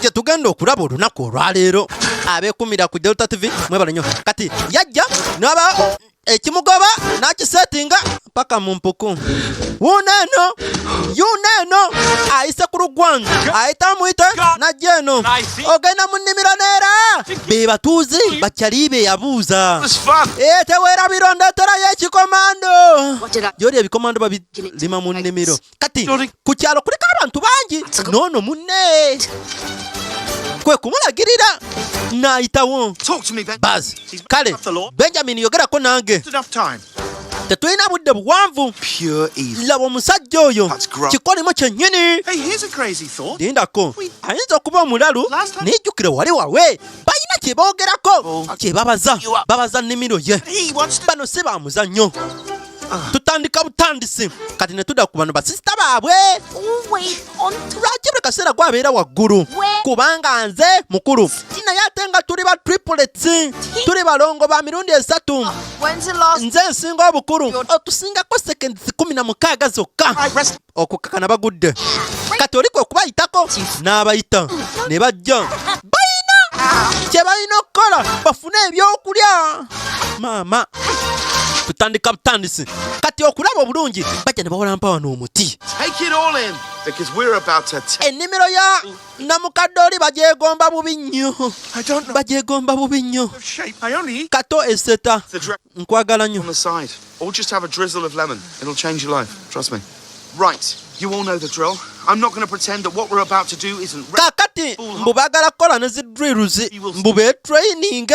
gye tugenda okulaba olunaku olwaleero abekumira ku delta tv mwebale nyo kati yajja naba ekimugoba nakisetinga paka mu mpuku wuuno eno yuuno eno ayise ku lugwanyu ayite amuyite najja eno ogenda mu nnimiro neera be batuuzi bakyali be yabuuza ee teweerabira ondeeterayo ekikomando gyoli ebikomando babirima mu nnimiro kati ku kyalo kuliko abantu bangi noono munne kwe kumulagirira n'ayitawo bazi kale benjamin yogerako nange tetulina budde buwanvu laba omusajja oyo kikolimo kyennyini lindako ayinza okuba omulalu nijjukire wali wawe balina kye boogerako oh. kye babaza babaza nnimiro ye bano si ba muzannyo tutandika butandisi kati ne tudda ku bano basisita baabwe lwaki buli kaseera gwabeera waggulu kubanga nze mukulu naye ate nga tuli ba triplets tuli balongo ba mirundi esatu nze nsinga obukulu otusingako sekendi kumi na mukaaga zokka okukakana bagudde kati oli kwe kubayitako n'abayita ne bajja balina kye balina okukola bafune ebyokulya maama tutandika butandisi kati okulaba obulungi bajja ne bawola mpawa n'omuti ennimiro ya namukadde oli bagyegomba bubi nnyo bagyegomba bubi nnyo kato eseta nkwagala nnyo Or just have a drizzle of lemon. It'll change your life. Trust me. Right. You all know the drill. I'm not going to pretend that what we're about to do isn't kakati mbu bagala kukola ne zi drills mbu be training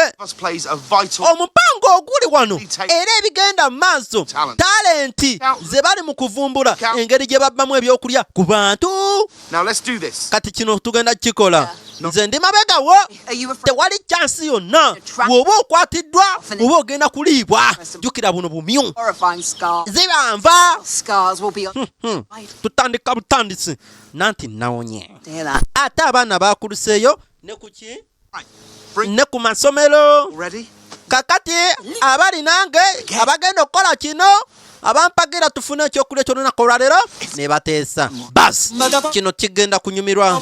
omupango oguli wano era ebigenda mu maaso talenti ze bali mu kuvumbula engeri gye babbamu ebyokulya ku bantu kati kino tugenda kukikola nze ndi mabega wo tewali kyansi yonna woba okwatiddwa oba ogenda kuliibwa jukira buno bumyu zibanva hmm, hmm. tutandika butandisi nanti nawonye ate abaana bakuluseeyo ne kuki ne ku masomero kakati abali nange abagenda okukola kino abampagira tufune ekyokulya ekyolunaku olwaleero nebateesa bas kino kigenda kunyumirwa